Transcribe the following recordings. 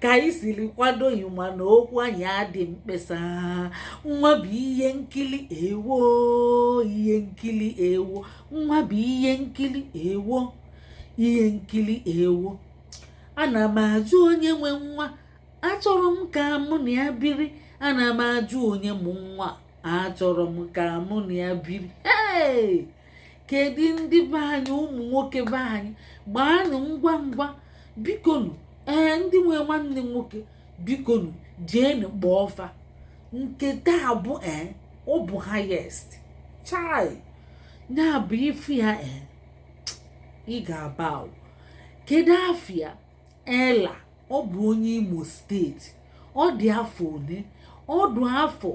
ka anyị siri kwado ịma na okwu anyị adị mkpesa nwa bụ ihe nkili ewo ihe nkili ewo nwa bụ ihe nkili ewo ihe nkili ewo ana m ajụ onye nwe nwa achọrọ m ka mụ na ya biri ana m ajụ onye mụ nwa achọrọ m ka mụ na ya biri ee kedu ndị be anyị ụmụ nwoke be anyị gbaanụ ngwa ngwa bikonu ee ndị nwe nwanne nwoke bikonu jeenu gbaa offer nke taa bụ ee ọ bụ highest chai ya bụ ịfụ ya ee ị ga-aba kedu afa ya Ella ọ bụ onye Imo state ọ dị afọ one ọ dị afọ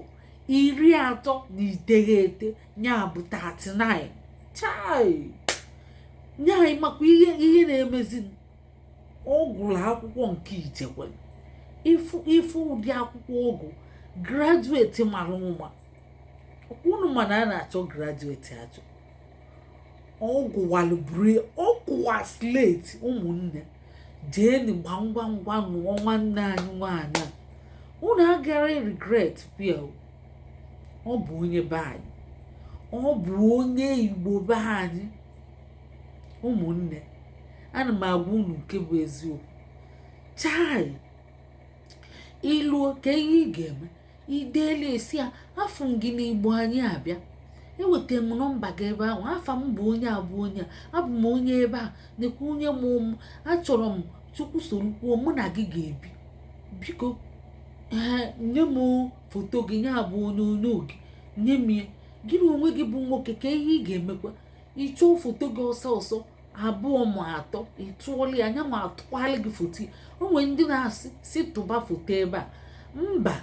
iri atọ na iteghete ya bụ 39 chai ya ị makwa ihe na-emezi ọ gụrụ akwụkwọ nke ichekwa ịfụ ụdị akwụkwọ ọ gụ graduate mara ụma unu ma na a na-achọ graduate achọ ọ gụwalụ biro ọ gụwa slate ụmụnne jeeni gba ngwa ngwa nụọ nwanne anyị nwaanyị a unu agara regret ya ọ bụ onye be anyị ọ bụ onye igbo be anyị ụmụnne ana m agwa unu nke bụ eziokwu chai i luo ka ihe ị ga-eme i deli ya sị ya afụ m gị n'igbo anyị abịa eweta m nọmba gị ebe ahụ afa m bụ onye a bụ onye a abụ m onye ebe a nekwa onye m ụmụ achọrọ m chukwu soro kwuo mụ na gị ga-ebi biko nye m foto gị nya bụ onyonyo gị nye m ya gị na onwe gị bụ nwoke ka ihe ị ga-emekwa ị chọọ foto gị ọsọ ọsọ abụọ ma atọ ị tụọlụ ya ya nwa atụkwaalụ gị foto o nwere ndị na-asị si tụba foto ebe a mba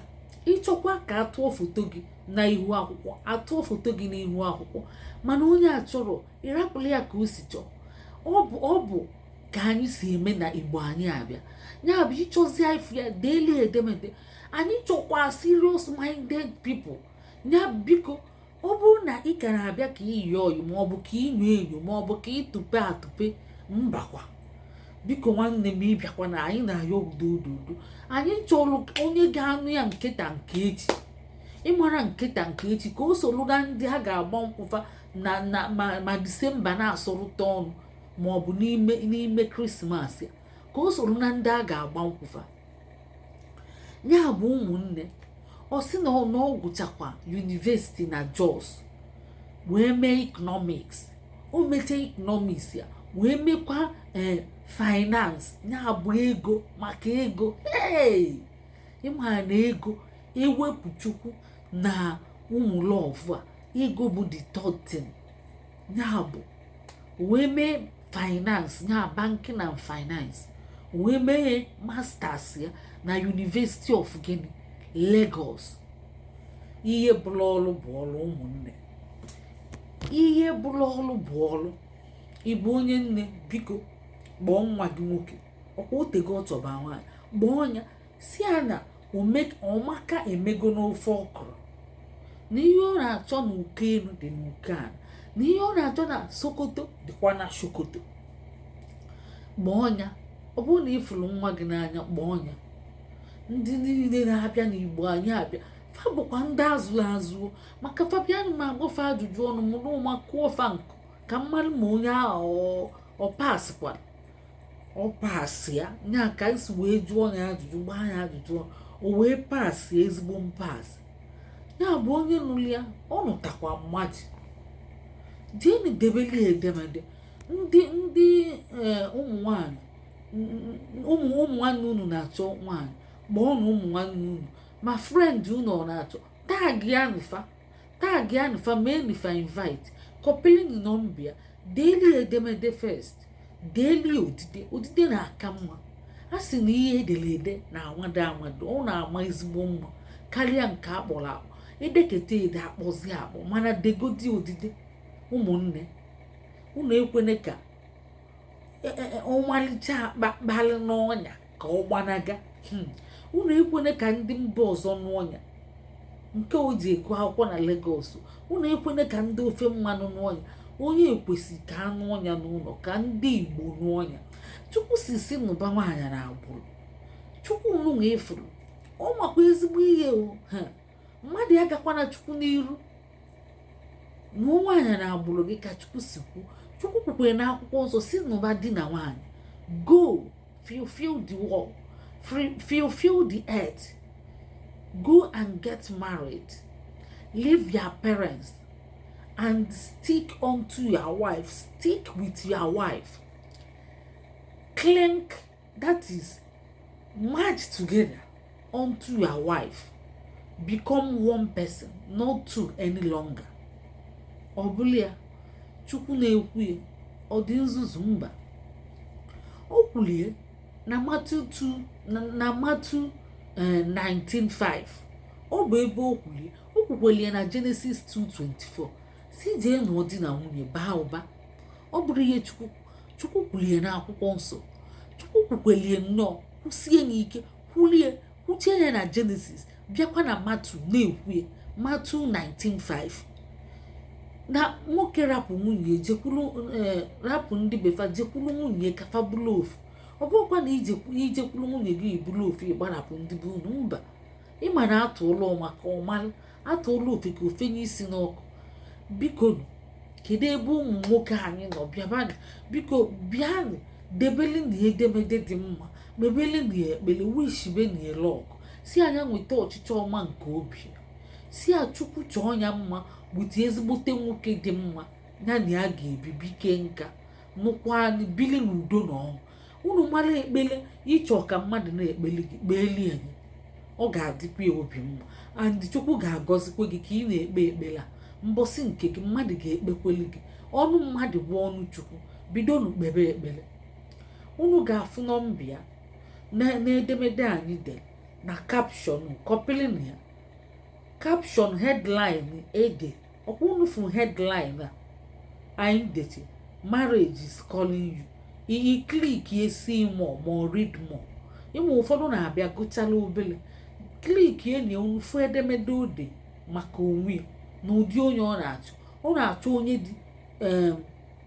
ị chọkwa ka atụọ foto gị na ihu akwụkwọ atụọ foto gị n'ihu akwụkwọ mana onye achọrọ ị rapụlụ ya ka o si chọọ ọ bụ ka anyị si eme na igbo anyị abịa ya bụ ị chọzi ife ya deelu edemede anyị chọkwa serious minded people ya biko ọ bụrụ na ị ka na-abịa ka i yie oyi ma ọ bụ ka i nyo enyo ma ọ bụ ka ị tụpe atụpe mbakwa biko nwanne m ị bịakwana anyị na-ayọ udo udo udo anyị chọrọ onye ga-anụ ya nke taa nke echi ị mara nke taa nke echi ka o soro na ndị a ga-agba nkwụ fa ma December na-asọrụta ọnụ ma ọ bụ n'ime krismas a ka o soro na ndị a ga-agba nkwụ fa nya bụ ụmụnne ọ sị na ọ gụchakwa yunivesiti na Jos wee mee economics o mechaa economics ya wee mekwa eh, finance nya bụ ego maka ego ị ma na ego ewepụ chukwu na ụmụ lọvụ a ego bụ the third nya bụ o wee mee finance nya banking and finance wee mee masters ya na University of gịnị Lagos ihe bụrụ ọrụ bụ ọrụ ụmụnne ihe bụrụ ọrụ bụ ọrụ ị bụ onye nne biko kpọọ nwa gị nwoke ọ kwa o teego ọ chọba nwaanyị kpọọ nya sị ya na ọmaka emego n'ofe ọkwụrụ na ihe ọ na-achọ na uko elu dị n'uko ala na ihe ọ na-achọ na sokoto dịkwa na sokoto kpọọ nya ọ bụrụ na ị fụrụ nwa gị n'anya kpọọ nya ndị niile na-abịa n'igbo anyị abịa fa bụkwa ndị a zụrụ azụ maka fa bịanụ m agbaa fa ajụjụ ọnụ mụ n'ụma kụọ fa nkụ ka m malụ ma onye ahụ ọ pasịkwara ọ pasịa nya ka e si wee jụọ nya ajụjụ gbaa nya ajụjụ ọnụ o wee pasịa ezigbo mpasị ya bụ onye nụrụ ya ọ nụtakwa mmadụ jeeni debeli edemede ndị ndị e, ụmụ nwanyị ụmụ ụmụ nwanne unu na-achọ nwanyị kpọọnụ ụmụ nwanne unu ma friend unu ọ na-achọ tagịanị fa tagịanị fa meenụ fa invite kọpịlị nọmba ya deeli edemede first deeli odide odide na-aka mma a sị na ihe e dere ede na-anwado anwado ọ na-ama ezigbo mma karịa nke a kpọrọ akpọ e deketa ede a kpọzie akpọ mana degodi odide ụmụnne unu ekwene ka e, e, e, ọmalịcha akpakpalị n'ọnya ka ọ gbanaga hmm. unu ekwene ka ndị mba ọzọ nụọ nya nke o ji eku akwụkwọ na Lagos unu ekwene ka ndị ofe mmanụ nụọ nya onye ekwesị ka a nụọ nya n'ụnọ ka ndị Igbo nụọ nya chukwu si si nụba nwaanyị na agbụrụ chukwu unu nwe ifuru ọ makwa ezigbo ihe o mmadụ agakwana chukwu n'iru nụọ nwaanyị na agbụrụ gị ka chukwu si kwu chukwu kwukwere na akwụkwọ nsọ sị nụba di na nwaanyị go fulfill the world fulfill the earth go and get married leave your parents and stick unto your wife stick with your wife cling that is merge together unto your wife become one person not two any longer ọ bụla ya chukwu na-ekwu ya ọ dị nzuzu mba o kwulie na Matthew 2 na Matthew 19:5 eh, ọ bụ ebe o kwulie o kwukwelie na Genesis 2:24 si jee nụọ di na nwunye baa ụba ọ bụrụ ihe chukwu kwulie na akwụkwọ nsọ chukwu kwukwelie nnọọ kwusie ya ike kwulie kwuchie ya na Genesis bịakwa na Matthew na-ekwue Matthew 19:5 na nwoke rapụ nwunye eh, rapụ ndị befa jekwuru nwunye ka fa bụrụ ofu ọ bụrụkwa na ijekwuru nwunye gị ị bụrụ ofu ịgbarapụ ndị be unu mba ịma na atụọlụ ọmaka ọ malụ atụọlụ ofeke o fenye isi n'ọkụ bikonu kedu ebe ụmụ nwoke anyị nọ bịabanụ biko bịanụ debelenụ ya edemede dị mma mebelenụ ya ekpele wishibenụ ya luck ọ si a ya nweta ọchịchọ ọma nke obi ya si a chukwu chọọ ya mma bute ezigbote nwoke dị mma ya na ya ga-ebi bikaa nka nụkwa anyị bili n'udo na ọṅụ unu mara ekpele ịchọ ka mmadụ na-ekpeli gị kpeeli ya nị ọ ga-adịkwa ya obi mma and chukwu ga-agọzikwa gị ka ị na-ekpe ekpele a mbọsị nke gị mmadụ ga-ekpekweli gị ọnụ mmadụ bụ ọnụ chukwu bidonu kpebe ekpele unu ga-afụ nọmba ya n'edemede anyị dere na caption kọpịlịnụ ya caption headline ede ọkwa unu fụ headline a anyị deche marriage is calling you ị click ye see more ma read more ịma ụfọdụ na-abịa gụchala obele click ye unu fụ edemede o de maka onwe ya na ụdị onye ọ na-achọ ọ na-achọ onye dị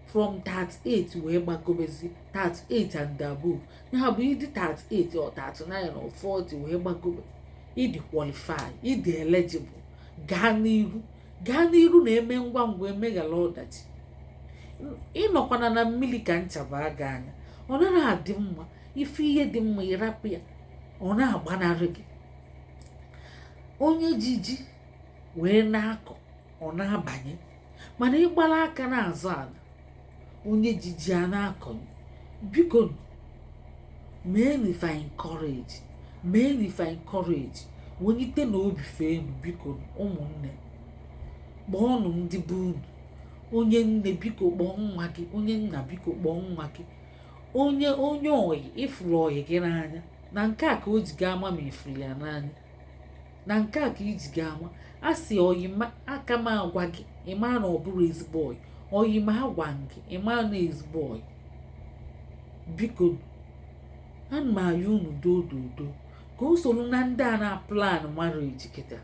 from 38 wee gbagobezi 38 and above ya bụ ịdị 38 or 39 or 40 wee gbagobe ịdị qualify ịdị eligible gaa n'iru gaa n'iru na-eme ngwa ngwa emeghara ọdachi ịnọkwana na mmiri ka ncha baa gị anya ọ naghị adị mma ịfụ ihe dị mma ịrapụ ya ọ na-agbanarị gị onye ji ji wee na-akọ ọ na-abanye mana ịgbara aka na-azọ ala onye ji ji a na-akọnye bikonu meenụ fa encourage meenụ fa encourage welitenụ obi fa enu bikonu ụmụnne kpọọnụ ndị be unu onye nne biko kpọọ nwa gị onye nna biko kpọọ nwa gị onye onye oyi ị fụrụ oyi gị n'anya na nke a ka o ji ga-ama ma ị fụrụ ya n'anya na nke a ka i ji ga-ama a sị oyima aka m agwa gị ịma na ọ bụrọ ezigbo oyi oyima agwa gị ịma na ọ ezigbo oyi biko ana m ayọ unu dododo ka o soro na ndị a na plan marriage kịta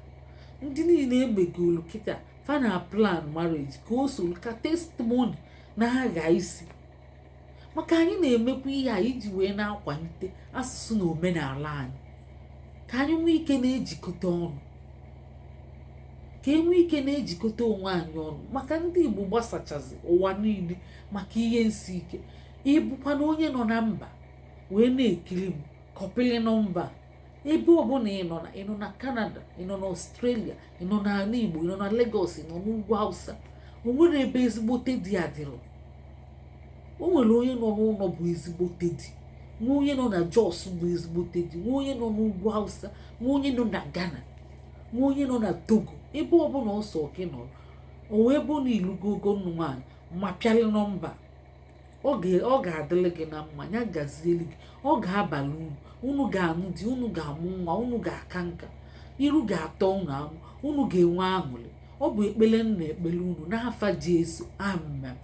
ndị niile e megolu kịta fa na plan marriage ka o soro ka testimony na-agha isi maka anyị na-emekwa ihe a iji wee na-akwalite asụsụ na omenala anyị ka anyị nwee ike na-ejikọta ọnụ ka e nwee ike na-ejikọta onwe anyị ọnụ maka ndị Igbo gbasachazi ụwa niile maka ihe nsi ike ị bụkwanụ onye nọ na mba wee na-ekiri m kọpịlị nọmba ebe ọbụla ị nọ na ị nọ na Canada ị nọ na Australia ị nọ na ala Igbo ị nọ na Lagos ị nọ n'ugwu Hausa o nwerọ ebe ezigbote di adịrọ o nwere onye nọ n'ụlọ bụ ezigbote di nwee onye nọ na Jos bụ ezigbote di nwee onye nọ n'ugwu Hausa nwee onye nọ na Ghana nwee onye nọ na Togo ebe ọbụla ọ sọ gị nọrọ o wee bụ na i lugo ogo ịnụ nwaanyị ma pịalị nọmba ọ ga-adịrị gị na mma ya gazieli gị ọ ga-abalị unu unu ga-anụ di unu ga-amụ nwa unu ga-aka nka iru ga-atọ unu amụ unu ga-enwe aṅụrị ọ bụ ekpere m na-ekpere unu n'afa Jesu amen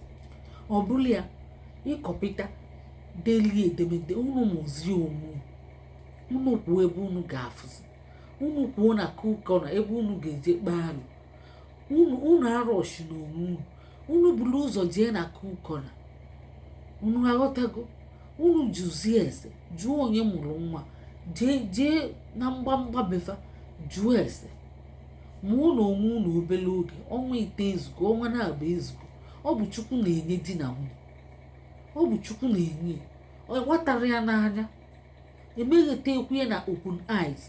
ọ bụrụ ya ị kọpịta delie edemede unu mụzie onwe unu kwuo ebe unu ga-afụzi unu kwuo n'akụkọ na ebe unu ga-eje kpaalụ unu arọshịna onwe unu unu buru ụzọ jee n'akụkọ na unu aghọtago unu jụzie ese jụọ onye mụrụ nwa jee na mgbamgba be fa jụọ ese mụọnụ onwe unu obere oge ọnwa ịtọ ezugo ọnwa naabọ ezugo ọ bụ chukwu na-enye di na nwunye ọ bụ chukwu na-enye ọ gwatara ya n'anya emeghete ekwunye na open eyes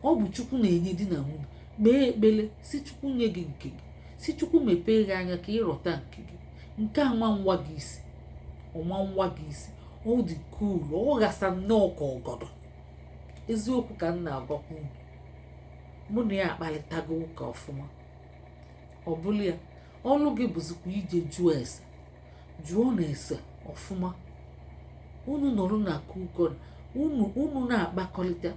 ọ bụ chukwu na-enye di na nwunye kpee ekpere sị chukwu nye gị nke gị sị chukwu mepee gị anya ka ị rọta nke gị nke a nwa nwa gị isi ọnwa nwa gị isi ọ dị cool ọ ghasa nnọọ ka ọgọdọ eziokwu ka m na-agwakwa unu mụ na ya akparịtago ụka ọfụma ọ bụlụ ya ọlụ gị bụzikwa ije jụọ ese jụọnụ ese ọfụma unu nọrọ n'akụkọ unu unu na-akpakọrịta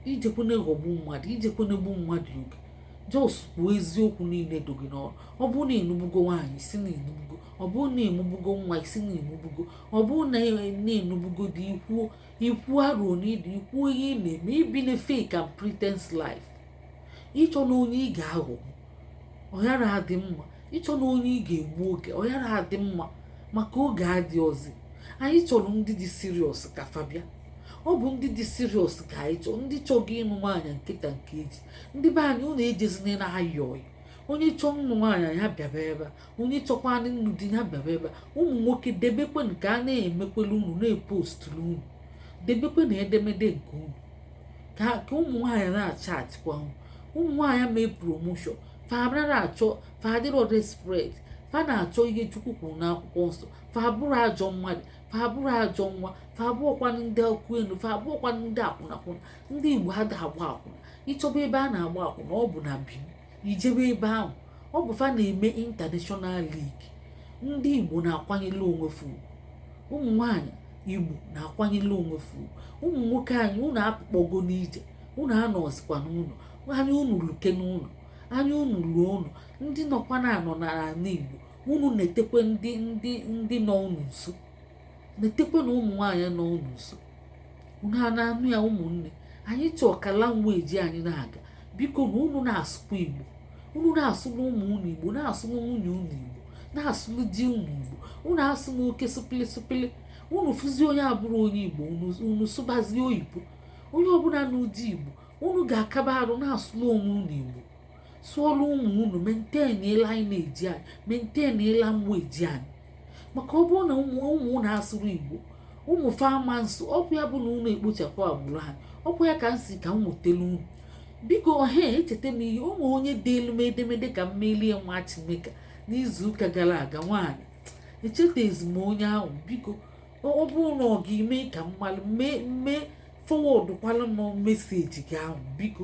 i jekwana aghọgbu mmadụ i jekwana egbu mmadụ oge just kwuo eziokwu niile dị gị n'arụ ọ bụrụ na ị nụbugo nwaanyị ị sị na ị nụbugo ọ bụrụ na ị mụbugo nwa ị sị na ị mụbugo ọ bụrụ na ị nụbugo di i kwuo i kwuo arọ n'ị dị i kwuo ihe ị na-eme i bina fake and pretense life ị chọna onye ị ga-aghọgbu ọ yara adị mma ịchọ na onye ị ga-egbu oge ọ yara adị mma maka oge adịrọzi anyị chọrọ ndị dị serious ka fa bịa ọ bụ ndị dị serious ka anyị chọọ ndị chọgo ịnụ nwaanyị kịta nke eji ndị be anyị unu ejezina na ayọị onye chọọ nnụ nwaanyị ya bịaba ebe a onye chọkwanụ nnụ di ya bịaba ebe ụmụ nwoke debekwenụ ka a na-emekwelu unu na-epostulu unu debekwenụ edemede nke unu ka ụmụ nwaanyị na-achatịkwa unu ụmụ nwaanyị mee promotion fa abịara achọ fa adịrọ desperate fa na-achọ ihe chukwu kwuru n'akwụkwọ nsọ fa abụrọ ajọ mmadụ fa abụrọ ajọ nwa fa abụọkwanụ ndị ọkụ elu fa abụọkwanụ ndị akwụnakwụna ndị igbo ada-agba akwụna ị chọba ebe a na-agba akwụna ọ bụ na bini i jebe ebe ahụ ọ bụ fa na-eme international league ndị igbo na-akwanyelu onwe fa ugwu ụmụ nwaanyị igbo na-akwanyelu onwe fa ugwu ụmụ nwoke anyị unu apụkpọgo n'ije unu anọzikwa n'ụnọ anya unu lukwe n'ụnọ anya unu luo ụnọ ndị nọkwa na-anọ n'ala igbo unu netekwe ndị ndị ndị nọ unu nso netekwanụ ụmụ nwaanyị nọ unu nso unu ana-anụ ya ụmụnne anyị chọọ ka language anyị na-aga bikonụ unu na-asụkwa igbo unu na-asụlụ ụmụ unu igbo na-asụlụ nwunye unu igbo na-asụlụ di unu igbo unu asụna oke sụpịlị sụpịlị unu fụzie onye abụrọ onye igbo unu sụbazie oyibo onye ọbụla n'ụdị igbo unu ga-akaba arụ na-asụlụ onwe unu igbo sụọlụ ụmụ unu maintain lineage anyị maintain language anyị maka ọ bụrụ na ụmụ ụmụ unu asụrọ igbo ụmụ fa ama asụ ọkwa ya bụ na unu ekpochapụ agbụrụ ha ọkwa ya ka m sị ka m wetelu unu biko he echeta m ihe o nwe onye deelu m edemede ka m meelu ya matchmaker n'izuụka gara aga nwaanyị echetezi m onye ahụ biko ọ bụrụ na ọ gị mee ka m malụ mee mee forwardụkwalụ m message gị ahụ biko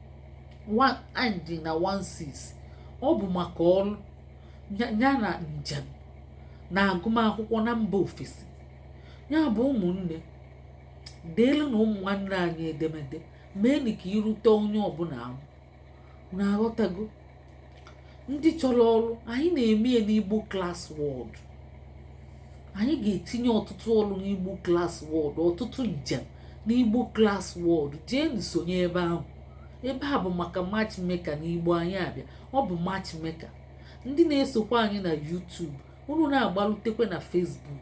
na-end na 16 ọ bụ maka ọrụ nya na njem na agụmakwụkwọ na mba ofesi nya bụ ụmụnne deelunụ ụmụ nwanne anyị edemede meenụ ka irute onye ọbụla ahụ unu aghọtago ndị chọrọ ọrụ anyị na-eme ya n'igbo class world anyị ga-etinye ọtụtụ ọrụ n'igbo class world ọtụtụ njem n'igbo class world jeenụ sonye ebe ahụ ebe a bụ maka matchmaker n'igbo anyị abịa ọ bụ matchmaker ndị na-esokwa anyị na YouTube unu na-agbalutekwe na Facebook